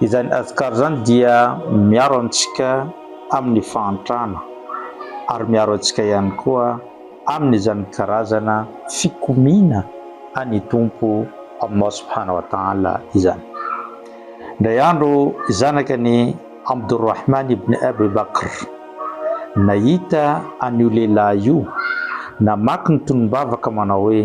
Izany Azkar izany dia miaro antsika amin'ny fahantrana ary miaro antsika ihany koa amin'izany karazana fikomiana an'ny Tompo Allah Subhana wa Ta'ala izany. Indray andro zanaka ny Abdurrahman ibn Abu Bakr nahita an'io lehilahy io namaky ny tonom-bavaka manao hoe.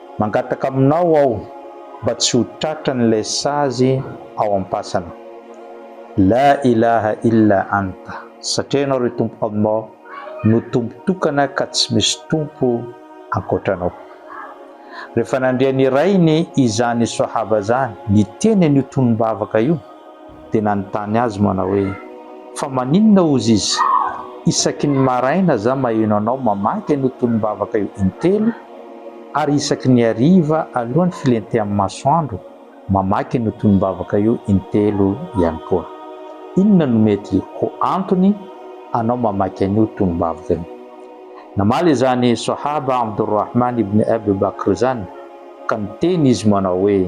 Mangataka aminao aho mba tsy ho tratran' ilay sazy ao am-pasana. La ilaha illa anta, satria Ianao ry Tompo Allah no Tompo tokana ka tsy misy Tompo ankoatra Anao. Rehefa nandre ny rainy izany Sahaba izany niteny an' io tonom-bavaka io, dia nanontany azy manao hoe, Fa maninona ozy izy? Isaky ny maraina za maheno anao mamaky an'io tonom-bavaka io intelo, ary isaky ny hariva alohan'ny filentehan'ny masoandro mamaky an'io tonom-bavaka io intelo ihany koa. Inona no mety ho antony anao mamaky an'io tonom-bavaka io? Namaly izany Sohaba Abdul Rahman ibn Abu Bakr izany ka niteny izy manao hoe,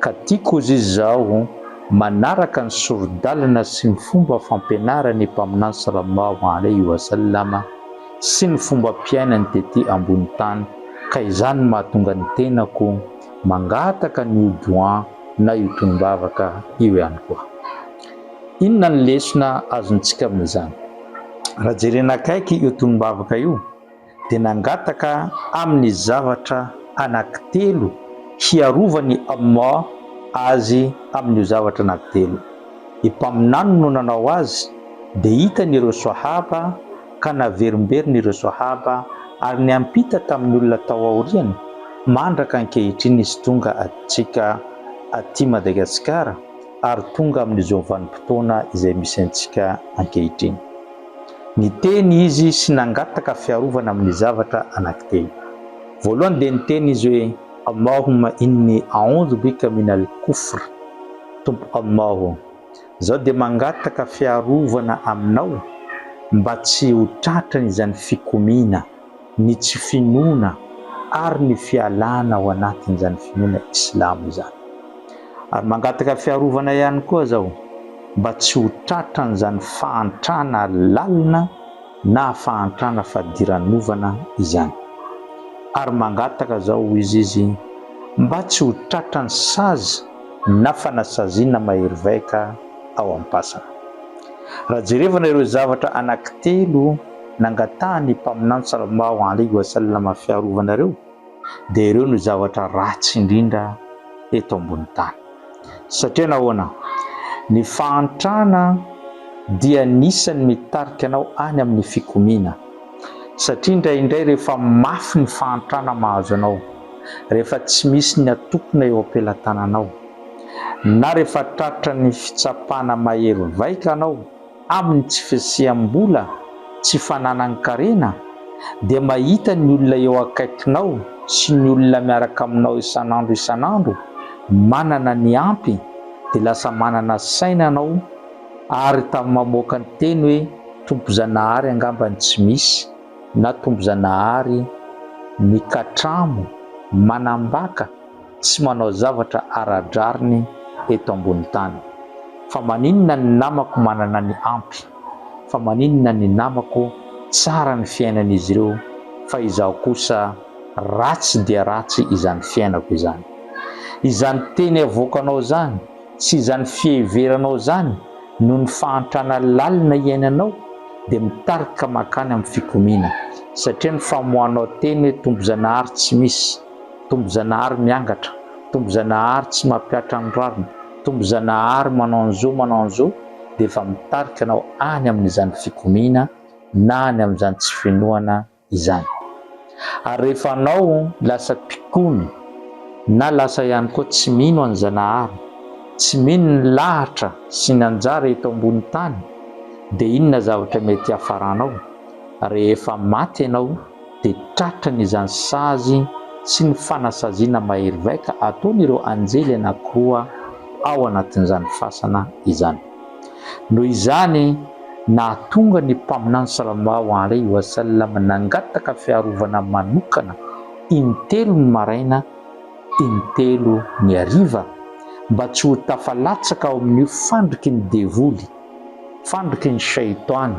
ka tiako hozy izy izaho manaraka ny sori-dalana sy ny fomba fampianaran'ny Mpaminany Salallahu alaihi wa sallam sy ny fombam-piainany tety ambony tany ka izany no mahatonga ny tenako mangataka ny io Doua na io tonom-bavaka io ihany koa. Inona ny lesona azontsika amin'izany? Raha jerena akaiky io tonom-bavaka io, dia nangataka amin'ny zavatra anankitelo hiarovan'i Allah azy amin'io zavatra anankitelo. Ny Mpaminany no nanao azy dia hitany ireo Swahaba ka naverimberiny ireo Swahaba ary niampita tamin'ny olona tao aoriany mandraka ankehitriny izy tonga antsika aty Madagasikara ary tonga amin'izao vanim-potoana izay misy antsika ankehitriny. Niteny izy sy nangataka fiarovana amin'ny zavatra anankitelo. Voalohany dia niteny izy hoe, Allahumma inni a'oudhu bika min al-kufr, Tompo Allah ô, izaho dia mangataka fiarovana Aminao mba tsy ho tratran'izany fikomiana. ny tsy finoana ary ny fialana ao anatin'izany finoana Islamo izany. Ary mangataka fiarovana ihany koa zao mba tsy ho tratran'izany fahantrana lalina na fahantrana fadiranovana izany. Ary mangataka zao hoy izy izy mba tsy ho tratran'ny sazy na fanasaziana mahery vaika ao am-pasana. Raha jerevana ireo zavatra anankitelo, nangatahan'ny Mpaminany Sallallahu alaihi wa sallam fiarovana ireo dia ireo no zavatra ratsy indrindra eto ambony tany. Satria nahoana? Ny fahantrana dia anisan'ny mitarika anao any amin'ny fikomiana. Satria indraindray rehefa mafy ny fahantrana mahazo anao, rehefa tsy misy ny atokona eo am-pelatananao, na rehefa tratran'ny fitsapana mahery vaika anao, Amin'ny tsy fisiam-bola, tsy fananan-karena, dia mahita ny olona eo akaikinao sy ny olona miaraka aminao isan'andro isan'andro manana ny ampy dia lasa manana saina ianao ary tamin'ny mamoaka ny teny hoe Tompozanahary angamba ny tsy misy na Tompozanahary mikatramo manambaka tsy manao zavatra ara-drariny eto ambony tany. Fa maninona ny namako manana ny ampy? Fa maninona ny namako tsara ny fiainan'izy ireo fa izaho kosa ratsy dia ratsy izany fiainako izany? Izany teny avoakanao izany sy izany fiheveranao izany noho ny fahantrana lalina iainanao dia mitarika makany amin'ny fikomiana, satria ny famoahanao teny hoe Tompo Zanahary tsy misy. Tombozanahary miangatra, tombozanahary tsy mampihatra ny rariny, tombozanahary manao ny zo manao ny zo dia efa mitarika anao any amin'izany fikomiana na any amin'izany tsy finoana izany. Ary rehefa anao lasa mpikomy na lasa ihany koa tsy mino an'i Zanahary, tsy mino ny lahatra sy ny anjara eto ambony tany dia inona zavatra mety hiafaranao? Rehefa maty ianao, dia tratran' izany sazy sy ny fanasaziana mahery vaika ataon' ireo anjely anankiroa ao anatin' izany fasana izany. Noho izany, nahatonga ny Mpaminany Salallahu alaihi wa sallam nangataka fiarovana manokana in-telo ny maraina, in-telo ny hariva, mba tsy ho tafalatsaka ao amin' io fandriky ny devoly, Fandriky ny Shaitan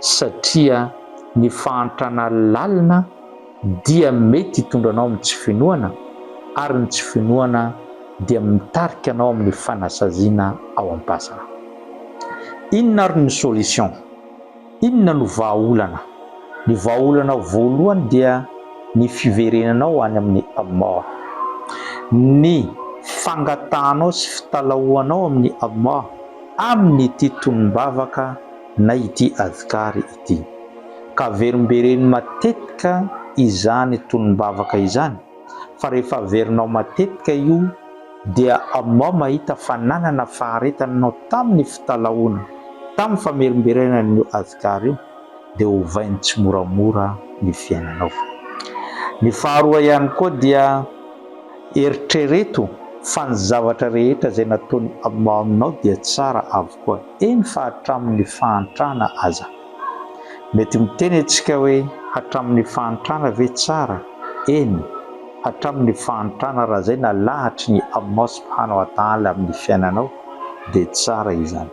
satria ny fahantrana lalina dia mety hitondra anao amin'ny tsy finoana ary ny tsy finoana dia mitarika anao amin'ny fanasaziana ao am-pasana. Inona ary ny solution? Inona no vahaolana? Ny vahaolana voalohany dia ny fiverenanao any amin'ny Allah. Ny fangatahanao sy fitalahoanao amin'i Allah amin'ity tonom-bavaka na ity adhkar ity. Ka verimbereno matetika izany tonom-bavaka izany fa rehefa averinao matetika io dia amoa mahita fa nanana faharetana ianao tamin'ny fitalahoana tamin'ny famerimberenan'io Asghar io dia ovainy tsimoramora ny fiainanao. Ny faharoa ihany koa dia eritrereto fa ny zavatra rehetra izay nataon'i Amoa aminao dia tsara avokoa eny fa hatramin'ny fahantrana aza. Mety miteny antsika hoe hatramin'ny fahantrana ve tsara? Eny, hatramin'ny fahantrana raha izay nalahatry ny Amosy mpanao atahala amin'ny fiainanao dia tsara izany.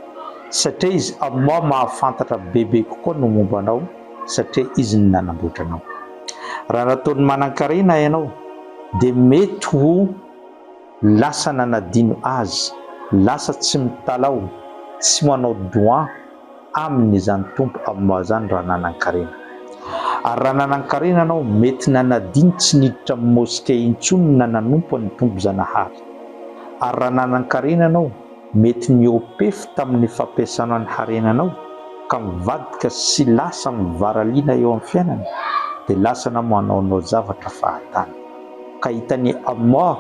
Satria izy Amosy mahafantatra bebe kokoa ny momba anao satria izy no nanamboatra anao. Raha nataony manankarena ianao dia mety ho lasa nanadino azy, lasa tsy mitalaho, tsy manao doha, Aminy izany Tompo aminao izany raha nanan-karena. Ary raha nanan-karena anao, mety nanadino tsy niditra amin'ny moske intsony na nanompo an'ny Tompo Zanahary. Ary raha nanan-karena anao, mety niopefy tamin'ny fampiasanao ny harenanao ka mivadika sy lasa mivaraliana eo amin'ny fiainana, dia lasa anao manaonao zavatra fahatany. Ka hitany Allah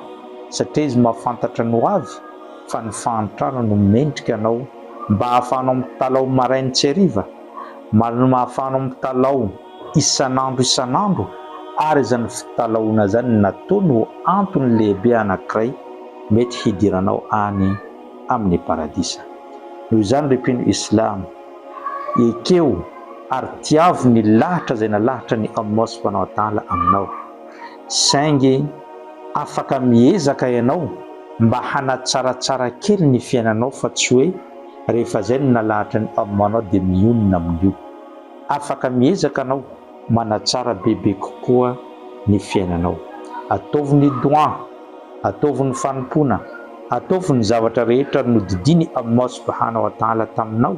satria Izy mahafantatra ny ho avy. fa ny fahantrana no mendrika anao mba hahafahanao mitalaho maraina sy hariva, malma hahafahanao mitalaho isan'andro isan'andro ary izany fitalahoana izany natao no antony lehibe anankiray mety hidiranao any amin'ny paradisa. Noho izany ry mpino islam, ekeo ary tiavo ny lahatra izay nalahatran'i Allah subhanahu wa ta'ala aminao. Saingy afaka miezaka ianao mba hanatsaratsara kely ny fiainanao fa tsy hoe rehefa izay no nalahatra ny Homme anao dia mionona amin'io. Afaka miezaka anao manatsara bebe kokoa ny fiainanao. Ataovy ny Dua, ataovy ny fanompoana, ataovy ny zavatra rehetra nodidian'i Allah Subhanahu wa Ta'ala taminao,